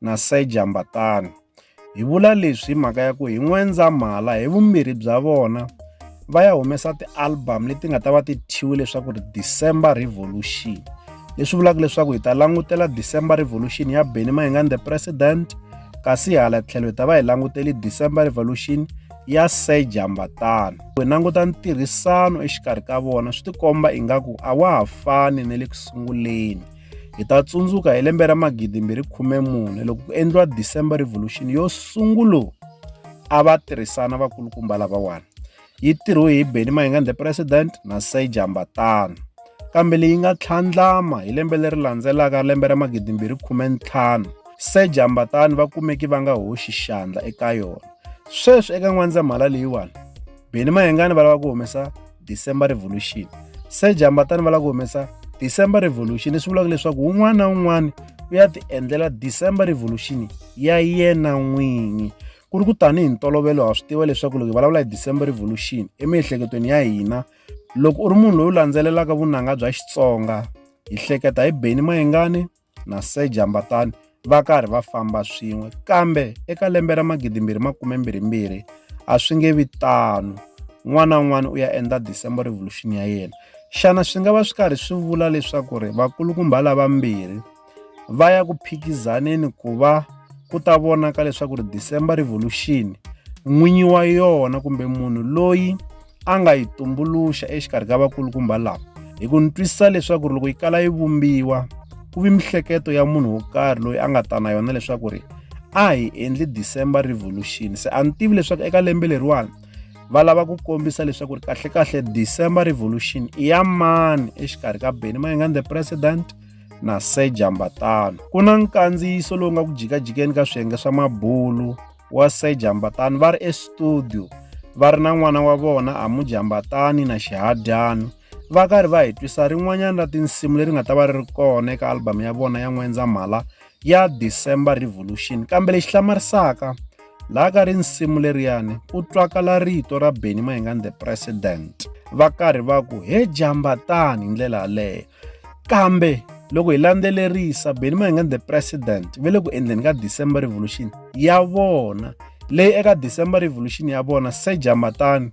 na Sir Jambatani. Hi vula leswi hi mhaka ya ku hi N'wendzamhala hi vumbirhi bya vona va ya humesa ti-album leti nga ta va ti thyiwe leswaku ri December Revolution leswi vulaka leswaku hi ta langutela December Revolution ya Benny Mayengani the President kasi hala tlhelo hi ta va hi languteli December Revolution ya Sir Jambatani hi languta ntirhisano exikarhi ka vona swi tikomba ingaku a wa ha fani na le ku sunguleni Hi ta tsundzuka hi lembe ra 2014 loko ku endliwa December Revolution yo sungula a va tirhisana vakulukumba lavawani. Yi tirhiwe hi Benny Mayengani the President na Sir Jamba Tano. Kambe leyi nga tlhandlama hi lembe leri landzelaka lembe ra 2015 Sir Jamba Tano va kumeki va nga hoxi xandla eka yona. Sweswi eka n'wandzamhala leyiwani Benny Mayengani va lava ku humesa December Revolution. Se Jambatani va lava ku humesa December Revolution leswi vulaka leswaku un'wana na un'wana u ya ti endlela December Revolution ya yena n'winyi ku ri ku tanihi ntolovelo ha swi tiva leswaku loko hi vulavula hi December Revolution emiehleketweni ya hina loko u ri munhu loyi u landzelelaka vunanga bya Xitsonga hi hleketa hi Benny Mayengani na Sir Jambatani va karhi va famba swin'we kambe eka lembe ra magidimbirhi makume mbirhimbirhi a swi nge vi tano n'wana un'wana u ya endla December Revolution ya yena xana swi nga va swi karhi swi vula leswaku ri vakulukumba lavambirhi va ya ku phikizaneni ku va ku ta vonaka leswaku ri December Revolution n'winyi wa yona kumbe munhu loyi a nga yi tumbuluxa exikarhi ka vakulukumba lava hi ku ni twisisa leswaku ri loko yi kala yi vumbiwa ku vi mihleketo ya munhu wo karhi loyi a nga ta na yona leswaku ri a hi endli December Revolution se a ni tivi leswaku eka lembe leriwani va lava ku kombisa leswaku ri kahlekahle December Revolution i ya mani exikarhi ka Benny Mayengani the president na Sir Jambatano ku na nkandziyiso lowu nga ku jikajikeni ka swiyenge swa mabulu wa Sir Jambatani va ri estudio va ri na n'wana wa vona a Mujambatani na Xihadyana va karhi va hi twisa rin'wanyana ra tinsimu leri nga ta va ri ri kona eka album ya vona ya N'wendzamhala ya December Revolution kambe lexi hlamarisaka laha ka ri nsimu leriyani ku twakala rito ra Benny Mayengani the president va karhi va ku he jambatani hi ndlela yaleyo Kambe loko hi landzelerisa Benny Mayengani the president ve le ku endleni ka December Revolution ya vona leyi eka December Revolution ya vona se Jamatani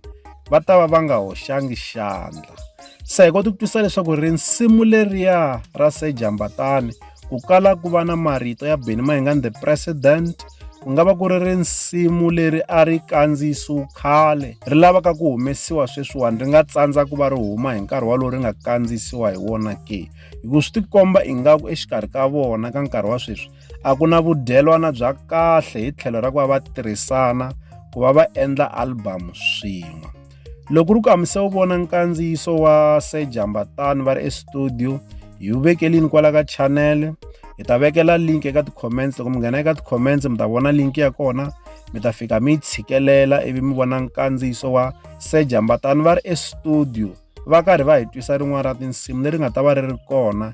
va ta va va nga hoxangi xandla se hi kota ku twisisa leswaku rinsimu leriya ra se Jambatani ku kala ku va na marito ya Benny Mayengani the president ku nga va ku ri risimu leri a ri kandziyisiwe khale ri lavaka ku humesiwa sweswiwani ri nga tsandza ku va ri huma hi nkarhi walowu ri nga kandziyisiwa hi wona ke hi ku swi tikomba ingaku exikarhi ka vona ka nkarhi wa sweswi a ku na vudyelwana bya kahle hi tlhelo ra ku va va tirhisana ku va va endla album swin'we Loko ri ku hamise u vona nkandziyiso wa Sir Jambatani va ri estudio hi wu vekelini kwala ka channel hi ta vekela link eka ti-comments loko mi nghena eka ti-comments mi ta vona link ya kona mi ta fika mi yi tshikelela ivi mi vona nkandziyiso wa Sir Jambatani va ri estudio va karhi va hi twisa rin'wana ra tinsimu leri nga ta va ri ri kona